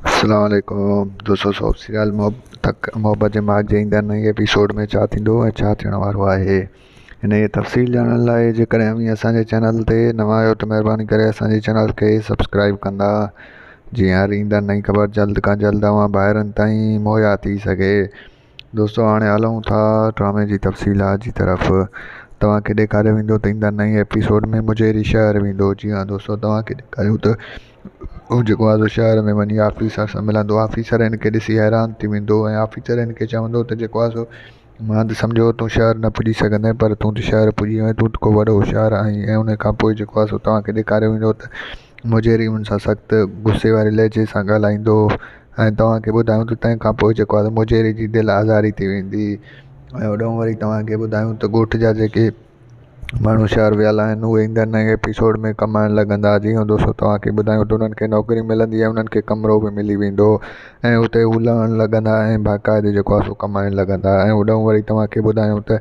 اسلام عليڪم دوستو سو سيال محبت محبت جي ماڳ جي ايندڙ نئي ايپيسوڊ ۾ ڇا ٿيندو ۽ ڇا ٿيڻ وارو آهي ان جي تفصيل ڄاڻڻ لاء جيڪڏهن اوهين اسانجي چينل تي نوان آهيو ته مهرباني ڪري اسانجي چينل کي سبسڪرائب ڪندا جيئن هر ايندڙ نئي خبر جلد کان جلد اوهان ڀائرن تائين مهيا ٿي سگهي دوستو هاڻي هلون ٿا ڊرامي جي تفصيلات جي طرف توهان کي ڏيکاريو ويندو ته ايندا نئين ايپيسوڊ ۾ مجيري شهر ويندو جي ها دوستو توهان کي ڏيکاريون ته هو جيڪو آزو شهر ۾ وڃي آفيسر سان ملندو آفيسر هن کي ڏسي حيران ٿي ويندو ۽ آفيسر هن کي چوندو ته جيڪو آزو مان ته سمجهيو هو تون شهر نه پڄي سگهندين پر تون ته شهر پڄي ويئين تون ته ڪو وڏو هوشيار آهين ۽ ان کان پوء جيڪو آزو توهان کي ڏيکاريو ويندو ته مجيري ان سان سخت غصي واري لهجي سان ڳالهائيندو هو ۽ توهان کي ٻڌايون ته تنهن کان پوء جيڪو آهي مجيري جي دل آزاري ٿي ويندي ۽ هوڏانهن وري توهان کي ٻڌايون ته ڳوٺ جا جيڪي ماڻهو شهر ويل آهن اهي ايندڙ نئين ايپيسوڊ ۾ ڪمائڻ لڳندا جي هو دوستو توهان کي ٻڌايون ته انهن کي نوڪري ملندي ۽ انهن کي ڪمرو به ملي ويندو ۽ اتي هو لهڻ لڳندا ۽ باقاعدي جيڪو آهي سو ڪمائڻ لڳندا ۽ هوڏانهن وري توهان کي ٻڌايون ته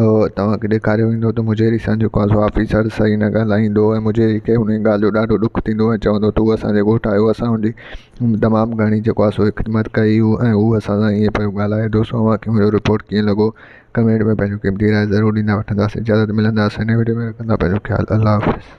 اهو توهان کي ڏيکاريو ويندو ته مجهيري سان جيڪو اسان جو آفيسر صحيح نه ڳالهائيندو ۽ مجهيري کي انهيء ڳالهه جو ڏاڍو ڏک ٿيندو ۽ چوندو ته هو اسان جي ڳوٺ آيو اسان هن جي تمام گهڻي جيڪو آهي سو خدمت ڪئي هو ۽ هو اسان سان ائين پيو ڳالهائي دوستو اوهان کي منهنجو رپورٽ ڪيئن لڳو ڪمينٽ ۾ پنهنجو قيمتي راء ضرور ڏيندا وٺنداسين جلد ملنداسين نئين وڊيو ۾ رکندا پنهنجو خيال الله حافظ